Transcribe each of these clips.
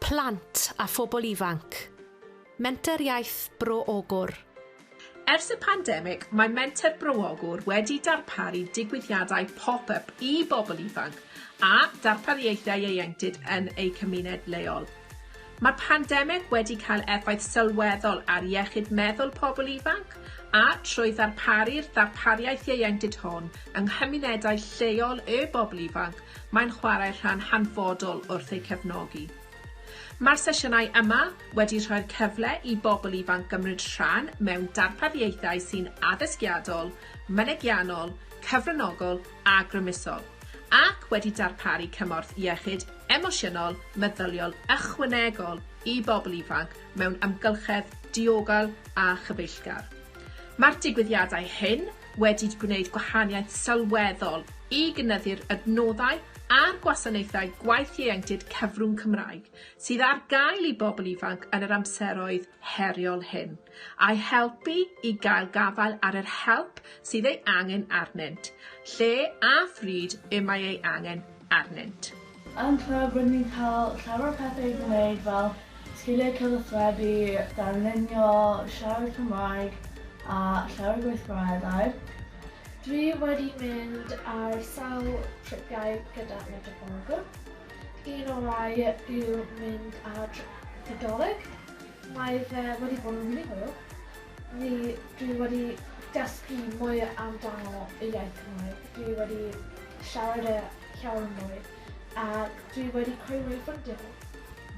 Plant a phobl ifanc. Menter Iaith Bro Ogwr. Ers y pandemig, mae Menter Bro Ogwr wedi darparu digwyddiadau pop-up i bobl ifanc a darpariaethau ieuenctid yn eu cymuned leol. Mae'r pandemig wedi cael effaith sylweddol ar iechyd meddwl pobl ifanc, a, trwy ddarparu'r ddarpariaeth ieuenctid hwn yng nghymunedau lleol y bobl ifanc, mae'n chwarae rhan hanfodol wrth eu cefnogi. Mae'r sesiynau yma wedi rhoi'r cyfle i bobl ifanc gymryd rhan mewn darpariaethau sy'n addysgiadol, mynegiannol, cyfranogol a grymusol, ac wedi darparu cymorth iechyd emosiynol meddyliol ychwanegol i bobl ifanc mewn amgylchedd diogel a chyfeillgar. Mae'r digwyddiadau hyn wedi gwneud gwahaniaeth sylweddol i gynyddu'r adnoddau a'r gwasanaethau gwaith ieuenctid cyfrwng Cymraeg sydd ar gael i bobl ifanc yn yr amseroedd heriol hyn. A'u helpu i gael gafael ar yr help sydd ei angen arnynt, lle a phryd y mae ei angen arnynt. Yn Clwb rydyn ni'n cael llawer o pethau i'w gwneud fel sgiliau cyfathrebu, darlunio, siarad Cymraeg a llawer o gweithgareddau. Dwi wedi mynd ar sawl tripiau gyda Medre Glasgow. Un orau yw mynd ar trip Nadolig Mae fe wedi bod yn rili hwyl. Fi dwi wedi dysgu mwy amdano y iaith Cymraeg. Dwi wedi siarad e llawer mwy ac dwi wedi creu mwy o ffrindiau.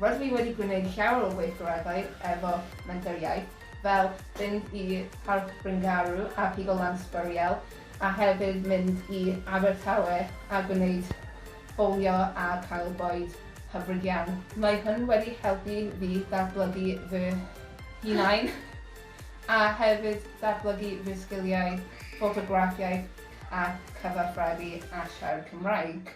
Rydw i wedi gwneud llawer o weithgareddau efo Menter Iaith, fel fynd i Parc Bryngarw a Pigo Lan Sbwriel a hefyd mynd i Abertawe a gwneud bowlio a cael bwyd hyfryd iawn. Mae hwn wedi helpu fi ddatblygu fy hunain a hefyd datblygu fy sgiliau ffotograffiaeth a cyfathrebu a siarad Cymraeg.